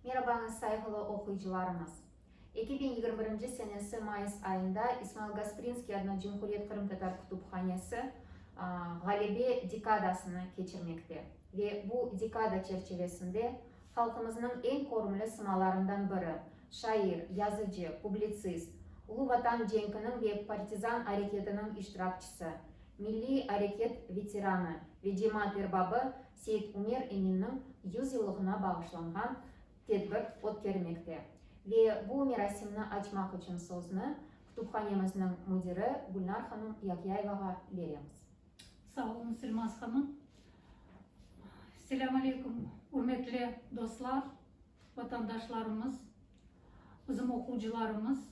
Merabañız, sayğılı oquyıcılarımız! Eki biñ yigirmi birinci senesi mayıs ayında İsmail Gasprinskiy adına Cumhuriyet qırımtatar kütüphanesi Ğalebe dekadasını keçirmekte ve bu dekada çerçivesinde halqımıznıñ eñ körümli sımalarından biri, şair, yazıcı, publitsist, Ulu Vatan cenkiniñ ve partizan areketiniñ iştirakçisi, Milliy areket veteranı ve cemaat erbabı Seit Umer Eminniñ yüz yıllığına bağışlanğan tedbir ötkermekte. Ve bu merasimni açmaq içün sözni Kütüphanemizniñ müdiri Gülnar hanım Yahyayevağa beremiz. Sağ olun, Sülmaz hanım. Selâm aleyküm, ürmetli dostlar, vatandaşlarımız, bizim oquvcılarımız!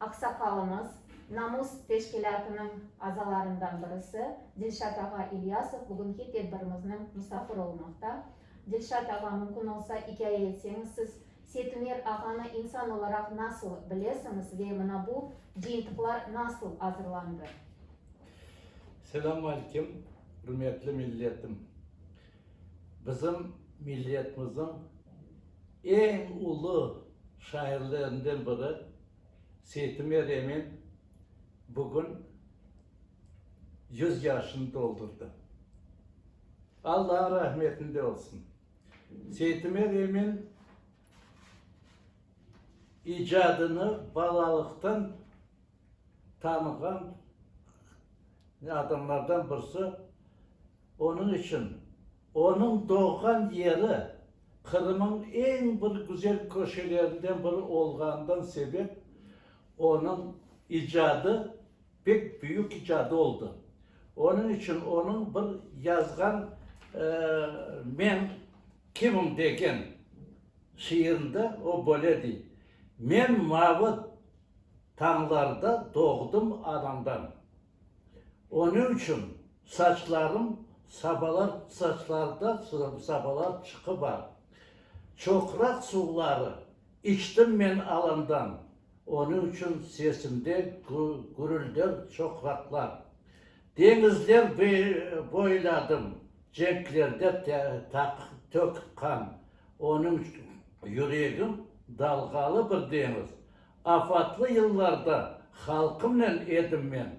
Aqsaqalımız, Namus teşkilâtınıñ azalarından birisi Dilşat ağa İlyasov bugünki tedbirimizniñ musafiri olmaqta. Dilşat ağa, mümkün olsa, ikâye etseñiz, siz Setumer ağanı insan olaraq nasıl bilesiñiz ve mına bu cıyıntıqlar nasıl azırlandı? Selâmalikim, ürmetli milletim! Bizim milletmizin eñ ulu şairlerinden biri Seytimer Emin bugün yüz yaşını doldurdı. Alla rahmetinde olsun. Seytimer Emin icadını balalıqtan tanığan adamlardan birisi onıñ içün onıñ doğğan yeri Qırımıñ eñ bir güzel köşelerinden biri olğanından sebep onıñ icadı pek büyük icadı oldı. Onıñ içün onıñ bir yazğan Men kimim degen şiirinde o böyle dey, Men mavı Tañlarda doğdım anamdan. Onı uçün saçlarım sabalar saçlarda sabalar çıqı bar. Çoqraq suvları içtim men alandan. Onı uçün sesimde gürülder çoqraqlar. Deñizler boyladım cenklerde tökip qan. Onıñ yüregim dalğalı bir deñiz. Afatlı yıllarda halqımnen edim men,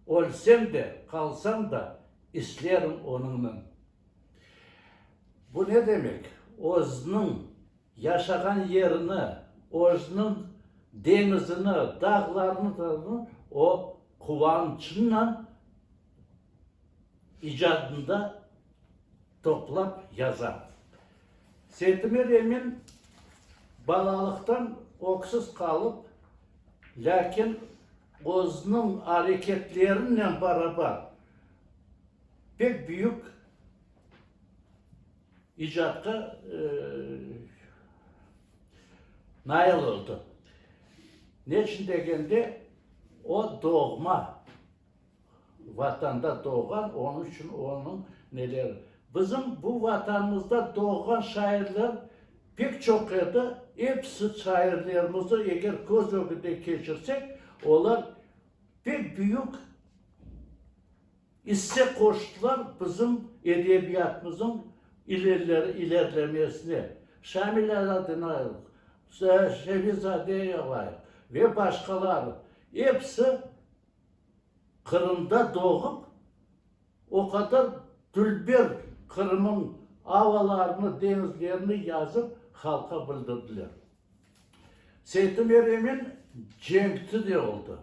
Ölsem de, qalsam da, islerim onıñnen. Bu ne demek? Özüniñ yaşağan yerini, özüniñ deñizini, dağlarını o quvançıñnen İcadında toplap yaza. Setime remen balalıqtan öksüz qalıp, lâkin özüniñ areketlerinen barabar pek büyük icatqa nail oldı. Neçün degende, o doğma. Vatanda doğğan, onıñ içün onıñ neleri. Bizim bu Vatanımızda doğğan şairler pek çoq edi. Episi şairlerimizni eger köz ögünden keçirsek, olar pek büyük isse qoştılar bizim edebiyatımızın ilerlemesine. Şamil Aladinoğlu, Şeviz Adeyeva ve başqaları, episi Qırımda doğıp, o qadar dülber Qırımıñ avalarını, deñizlerini yazıp, halqa bildirdiler. Seytumer emin cenkçi de oldı.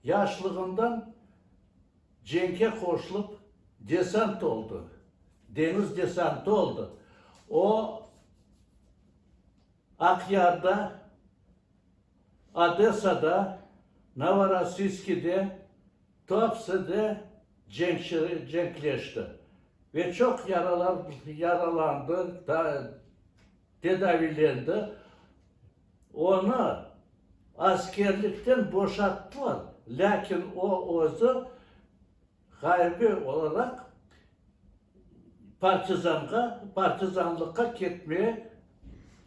Yaşlığından cenke qoşlup, desant oldı, deñiz desantı oldı. O, Aqyarda Odessada, Novorossiyskide, Tuapsede cenkçiler cenkleşti ve çoq yaralandı, tedaviylendi. Onı askerlikten boşattılar, lâkin o özü Ğarbiy olaraq partizanğa, partizanlıqqa ketmeye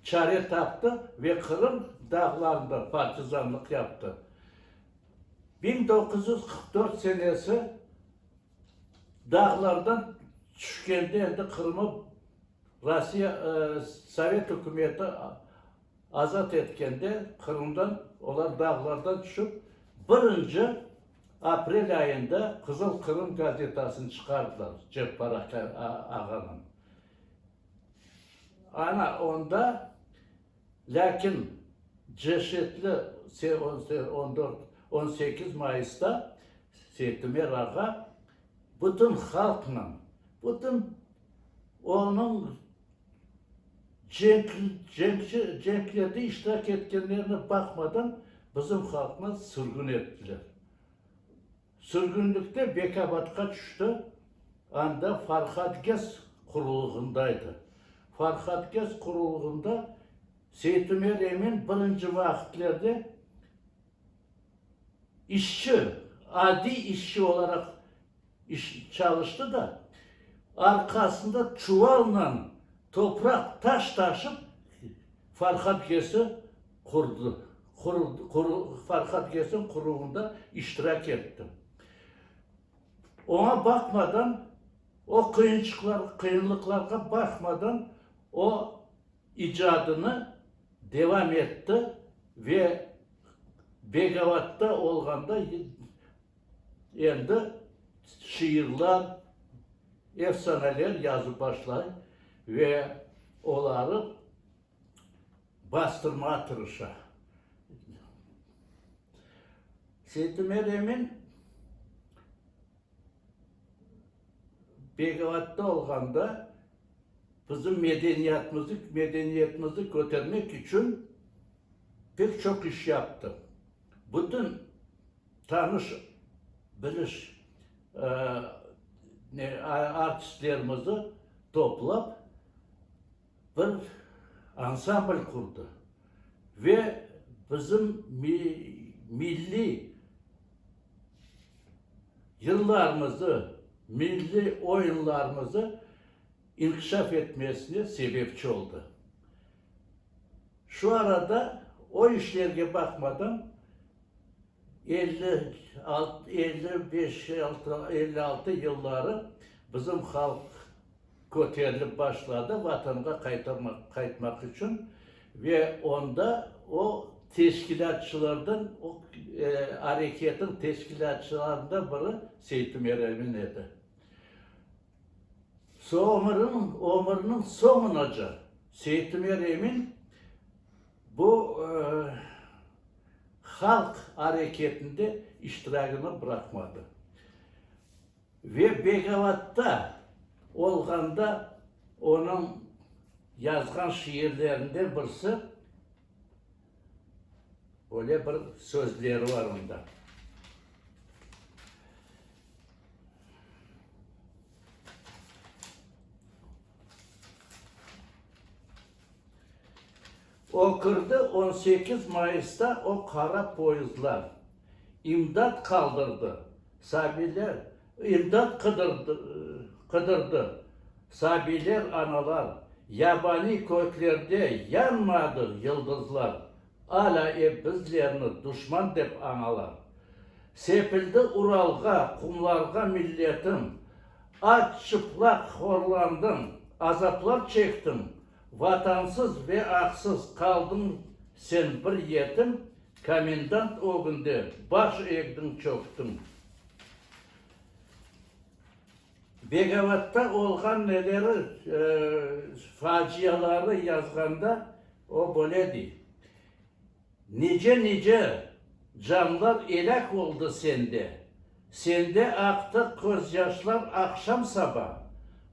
çare taptı ve Qırım dağlarında partizanlıq yaptı. Biñ doquz yüz qırq dört senesi dağlardan tüşkende endi Qırımı Rossiya, Sovet ükümeti Azat etkende Qırımdan olar dağlardan tüşip, birinci aprel ayında Qızıl Qırım gazetasını çıqardılar, Ceppar aka ağanıñ. Ana onda, lâkin ceşetli on dört, on sekiz mayısta Seytimer ağa bütün halqnen, bütün onıñ Cenklerde iştirak etkenlerine baqmadan, bizim halqnı sürgün ettiler. Sürgünlikte Bekabadqa tüşti, anda Farhadges qurulığındaydı. Farhadges qurulığında Seytümer Emin birinci vaqıtlerde İşçi, adiy işçi olaraq çalıştı da, arqasında çuvalla topraq, taş taşıp, Farhad Gese qurdı, Farhad Gese quruvında iştirak etti. Oña baqmadan, o qıyınçıqlarğa, qıyınlıqlarğa baqmadan, o, icadını devam etti ve Begavatda olğanda endi şiirler, efsaneler yazıp başlay ve oları bastırmağa tırışa. Seytümer Emin. Belgradda olğanda bizim medeniyatımızı, medeniyetimizni kötermek içün pek çoq iş yaptım. Bütün tanış, biliş artistlerimizni toplap, Bir ansambl qurdı ve bizim milliy yıllarımızı, milliy oyunlarımızı inkişaf etmesine sebepçi oldı. Şu arada o işlerge baqmadan, elli altı, elli beş, elli altı yılları bizim halq Köterilip başladı Vatanğa qaytarmaq, qaytmaq içün ve onda o teşkilâtçılardan, o areketin teşkilâtçılarından biri Seytüm Eremin edi. Soñurın, ömüriniñ soñunaca Seytüm Eremin bu halq areketinde iştiragini bıraqmadı. Ve Begavatda olğanda onıñ yazğan şiirlerinden birisi, öyle bir sözleri bar onda, O kirdi, on sekiz mayısta o qara poyezdlar, imdat qaldırdı, sabiyler, imdat qıdırdı, sabiyler, analar, yabaniy köklerde yanmadıq yıldızlar, alâ ep bizlerni duşman dep añalar. Sepildi Uralğa, qumlarğa milletim, aç, çıplaq horlandım, azaplar çektim, Vatansız ve aqsız qaldıñ sen bir yetim, Komendant ögünde baş egdiñ, çöktiñ. Begavat'ta olğan neleri, faciaları yazğanda o böyle dey. Nice-nice canlar elâk oldı sende, Sende aqtı közyaşlar aqşam-saba,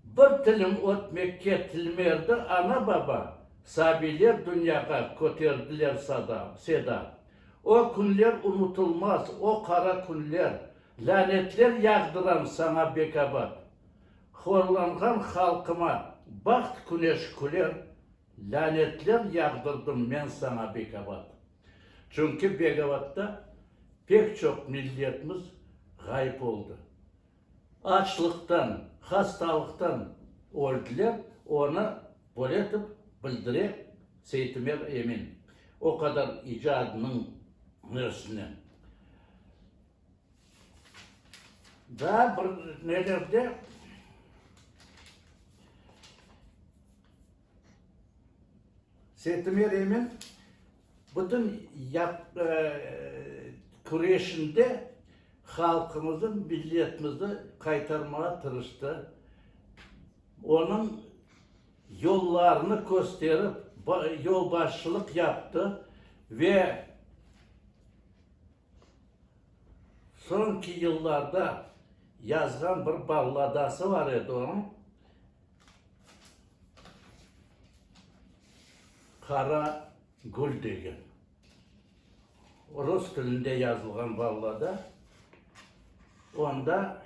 Bir tilim ötmekke tilmerdi ana-baba, Sabiyler dünyağa köterdiler sada, seda. O künler unutılmaz, o qara künler, Lânetler yağdıram saña bekabat. Horlanğan halqıma baht küneş küler, Lânetler yağdırdım men saña Begabat. Çünki Begabatta pek çoq milletmiz ğayıp oldı. Açlıqtan, hastalıqtan öldiler, onı böyle etip bildire Seytimer Emin, o qadar icadınıñ özünen. Daa bir nelerde Sertime remen bütün küreşinde halqımızı, milletimizi qaytarmağa tırıştı. Onıñ yollarını kösterip, yolbaşçılıq yaptı ve Soñki yıllarda yazğan bir balladası bar edi onıñ, Qara gül degen. Rus tilinde yazılğan ballada. Onda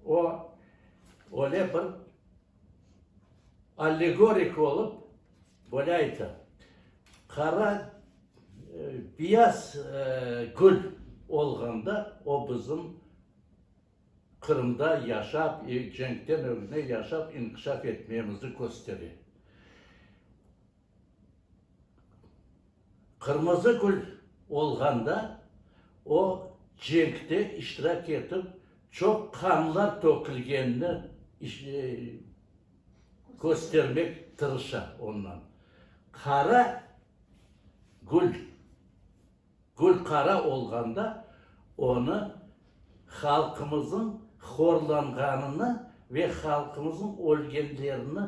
o, öyle bir allegorik olıp, Böyle ayta, Qara piyaz kül olğanda o bizim Qırımda yaşap, cenkten ögüne yaşap, inkişaf etmemizni köstere. Qırmızı kül olğanda o cenkte iştirak etip, çoq qanlar tökülgenini köstermek tırışa ondan. Qara gül, gül qara olğanda onı halqımızın horlanğanını ve halqımızın ölgenlerini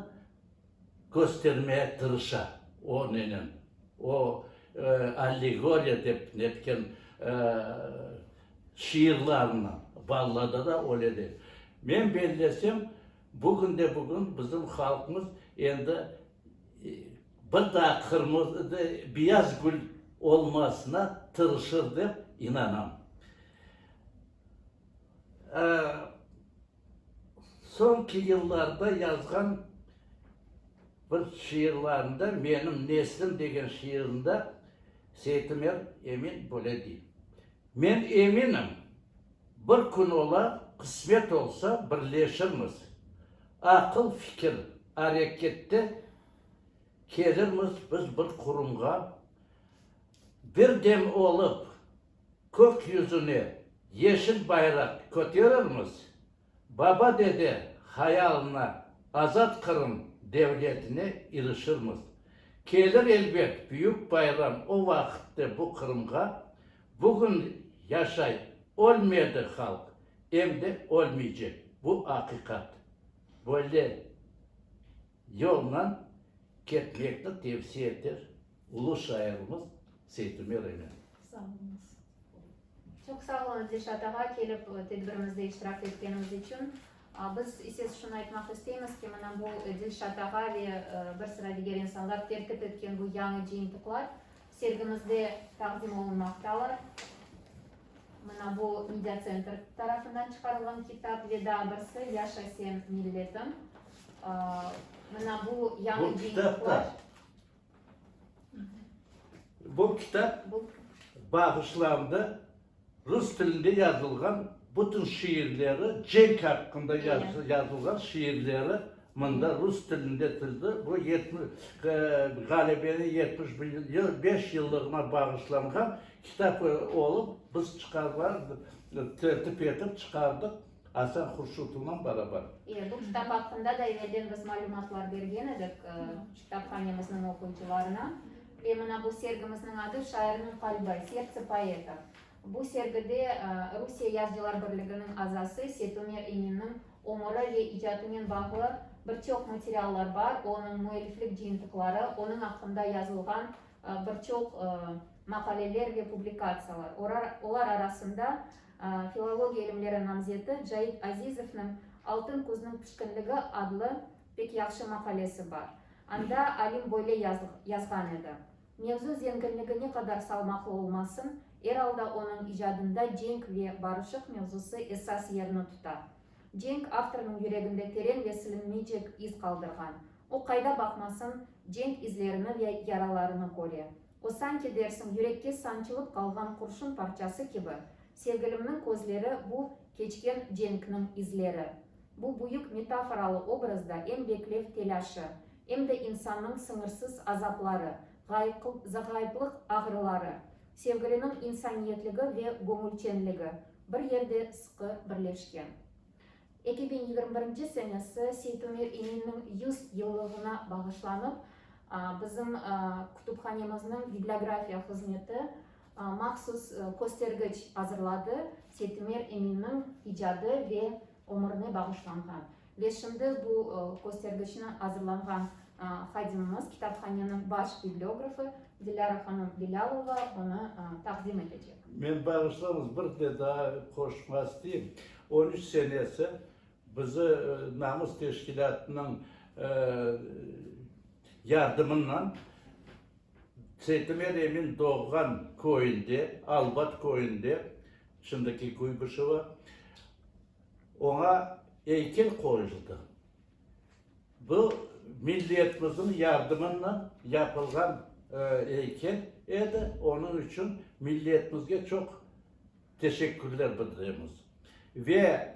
köstermeye tırışa o nenen, o allegoriya dep netken şiirlarınen. Ballada da öyle de. Men bellesem, Bugünde-bugün bizim halqımız endi bir daa qırmızı, beyaz gül olmasına tırışır dep inanam. Soñki yıllarda yazğan bir şiirlerimde, Menim neslim degen şiirinde Seytumer Emin böyle dey. Men eminim, bir kün olar, qısmet olsa, birleşirmiz, aqıl, fikir, arekette kelirmiz biz bir qurumğa, bir dem olıp, kök yüzüne yeşil bayraq köterirmiz, Baba-dede hayalına, azat Qırım devletine irişirmiz. Kelir elbet büyük bayram o vaqitte bu Qırımğa, bugün yaşay, ölmedi halq, em de ölmeycek, bu aqiqat. Böyle. Yolnen ketmekni tevsiye eter ulu şairimiz Seytumer Emen. Sağ oluñız. Çoq sağ olunız Dilşat ağa, kelip tedbirimizde iştirak etkeniñiz içün. Biz ise şunı aytmaq isteymiz ki, mına bu Dilşat ağa ve bir sıra diger insanlar terkip etken bu yañı cıyıntıqlar sergimizde taqdim olunmaqtalar. Mına bu, Media Center tarafından çıqarılğan kitap ve daa birsi, Yaşa sen, milletim. Mına bu, yañı yayınlar. Bu kitap, bu kitap bağışlandı. Rus tilinde yazılğan bütün şiirleri, cenk aqqında yazılğan şiirleri mında rus tilinde tizdi. Bu ğalebeniñ yetmiş beş yıllığına bağışlanğan kitap olıp, biz tertip etip çıqardıq. Asar huşutunen barabar. E, bu kitap aqqında da evelden biz malümatlar bergen edik kitaphanemizniñ oquyıcılarına. Ve mına bu sergimizniñ adı Şairniñ qalbi, Sertse poeta. Bu sergide Rusiye Yazıcılar birliginiñ azası Setumer İminniñ ömüri ve icatınen bağlı bir çoq materiallar bar, onıñ müelliflik cıyıntıqları, onıñ aqqında yazılğan bir çoq maqaleler ve publikatsiyalar. Olar arasında Filologiya ilimleri namzeti Cait Azizovnıñ Altın kuzniñ pişkinligi adlı pek yahşı maqalesi bar. Anda alim böyle yazğan edi, Mevzu zenginligi ne qadar salmaqlı olmasın, er alda onıñ icadında cenk ve barışıq mevzusı esas yerni tuta. Cenk avtornıñ yüreginde teren ve silinmeycek iz qaldırğan. O, qayda baqmasın, cenk izlerini ve yaralarını köre. O, sanki dersiñ, yürekke sançılıp qalğan qurşun parçası kibi, sevgilimniñ közleri bu, keçken cenkniñ izleri. Bu büyük metaforalı obrazda em beklev telâşı, em de insannıñ sıñırsız azapları, ğayıplıq ağrıları, sevgiliniñ insaniyetligi ve göñülçenligi bir yerde sıqı birleşken. Eki biñ yigirmi birinci senesi Seytumir İminniñ yüz yıllığına bağışlanıp, bizim kütüphanemizniñ bibliografiya hızmeti mahsus köstergiç azırladı, Seytumir İminniñ icadı ve ömürine bağışlanğan. Ve şimdi bu köstergiçni azırlanğan hadimimiz, kitaphaneniñ baş bibliografı Dilâra hanım Bilâlova onı taqdim etecek. Men bağışlañız, bir de daa qoşmaq isteyim. On üç senesi bizi namus teşkilâtınıñ yardımınan Seytimer emin doğğan köyünde, Albat köyünde, şimdiki Kuybışevo, oña eykel qoyuldı. Bu milletmizniñ yardımınan yapılğan eykel edi, onıñ içün milletmizge çoq Teşekkürler bildiremiz. Ve,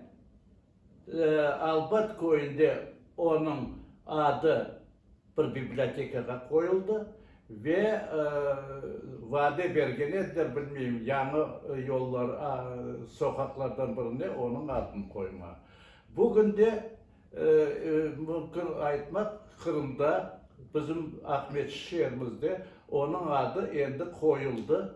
albat, köyünde onıñ adı bir bibliotekağa qoyuldı ve vade bergen ediler, bilmeyim, yañı yollar, soqaqlardan birine onıñ adını qoyma. Bugün de, mümkün aytmaq, Qırımda, bizim Aqmescit şeerimizde onıñ adı endi qoyuldı,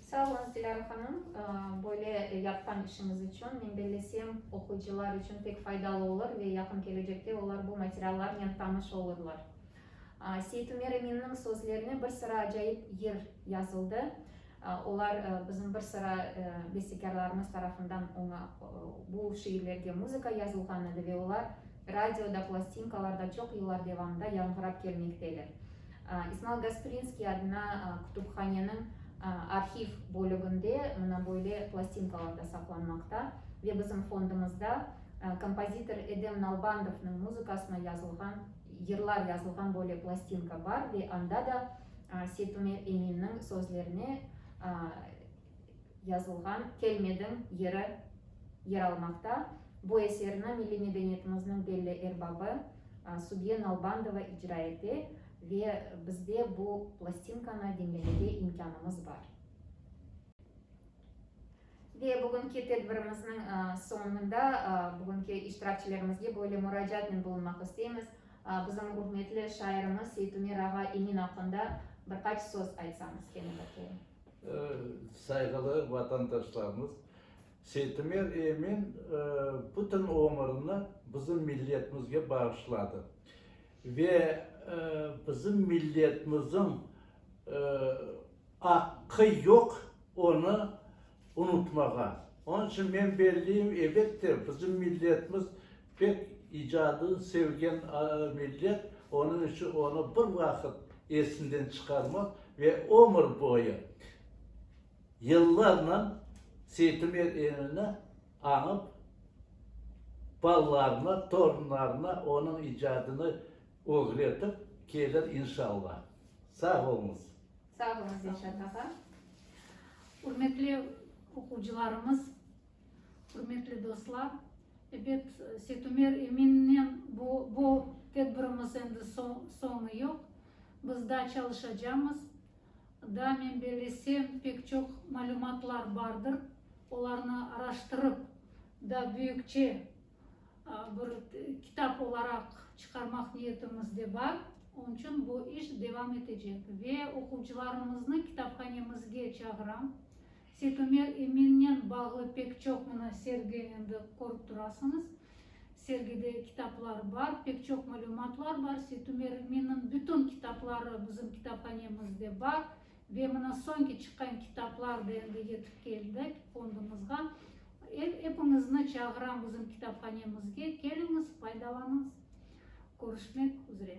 Sağ olunız, Dilara hanım. Böyle yapqan işiñiz içün. Men bellesem, oquyıcılar içün pek faydalı olur ve yaqın kelecekte olar bu materiallarnen tanış olurlar. Seit Ümer Eminniñ sözlerine bir sıra acayip yır yazıldı. Olar bizim bir sıra bestekârlarımız tarafından oña, bu şiirlerge muzıka yazılğan edi ve olar Radioda, plastinkalarda çoq yıllar devamında yañğırap kelmekteler. İsmail Gasprinskiy adına kütüphaneniñ arhiv bölüginde mına böyle plastinkalar da saqlanmaqta ve bizim fondumızda kompozitor Edem Nalbandovnıñ muzıkasına yazılğan, yırlar yazılğan böyle plastinka bar ve anda da Seytumer Eminniñ sözlerine yazılğan Kelmediñ yeri yer almaqta. Bu eserni milliy medeniyetimizniñ belli erbabı Subiye Nalbandova icra ete ve bizde bu plastinkanı diñlemege imkânımız bar. Ve bugünki tedbirimizniñ soñunda bugünki iştirakçilerimizge böyle muracaatnen bulunmaq isteymiz, bizim ürmetli şairimiz Seytumer ağa Emin aqqında bir qaç söz aytsañız, kene bakayım. Sayğılı vatandaşlarımız, Seytimer Emin bütün ömrüni bizim milletimizge bağışladı ve bizim milletimizin aqqı yoq onı unutmağa. Onıñ içün men belleyim, elbette, bizim milletimiz, Pek icadını sevgen millet onıñ içün onı bir vaqıt esinden çıqarmaz ve ömür boyu, yıllarla Seytimer emini añıp, balalarına, torunlarına onıñ icadını ögretip kelir, inşallah. Sağ olunız. Sağ olunız, Reşat ağa. Ürmetli oquvcılarımız! Ürmetli dostlar, ebet, Setumer Eminniñ bu bu tedbirimiz endi soñu yoq. Biz daa çalışacamız. Daa, men bellesem, pek çoq malümatlar bardır. Olarnı araştırıp, daa büyükçe bir kitap olaraq çıqarmaq niyetimiz de bar. Onıñ içün bu iş devam etecek. Ve oquvçılarımıznı kitaphanemizge çağıram. Setomer Eminen bağlı pek çoq mına sergi endi körip turasıñız. Sergide kitaplar bar, pek çoq malümatlar bar. Setomer Eminniñ bütün kitapları bizim kitaphanemizde bar ve mına soñki çıqqan kitaplar da endi yetip keldi fondumızğa. Epiñizni çağıram bizim kitaphanemizge, keliñiz, faydalanıñız. Körüşmek üzre.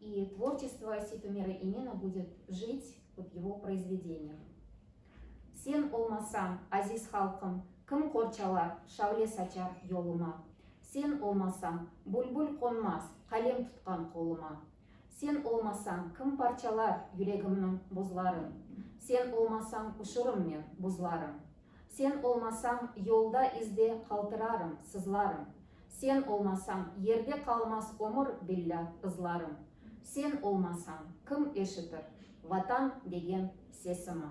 İ tvorçestvo Sitomira İmina budet jit ıp yego proizvedeniyav. Sen olmasañ, aziz halqım, kim qor çalar, şavle saçar yoluma? Sen olmasañ, bulbul qonmaz, qalem tutqan qoluma. Sen olmasañ, kim parçalar yüregimniñ buzların? Sen olmasañ, uşurım men buzların. Sen olmasañ, yolda izde qaltırarım, sızlarım. Sen olmasañ, yerde qalmaz ömür, billâ, ızlarım. Sen olmasañ, kim eşitir Vatan degen sesimni?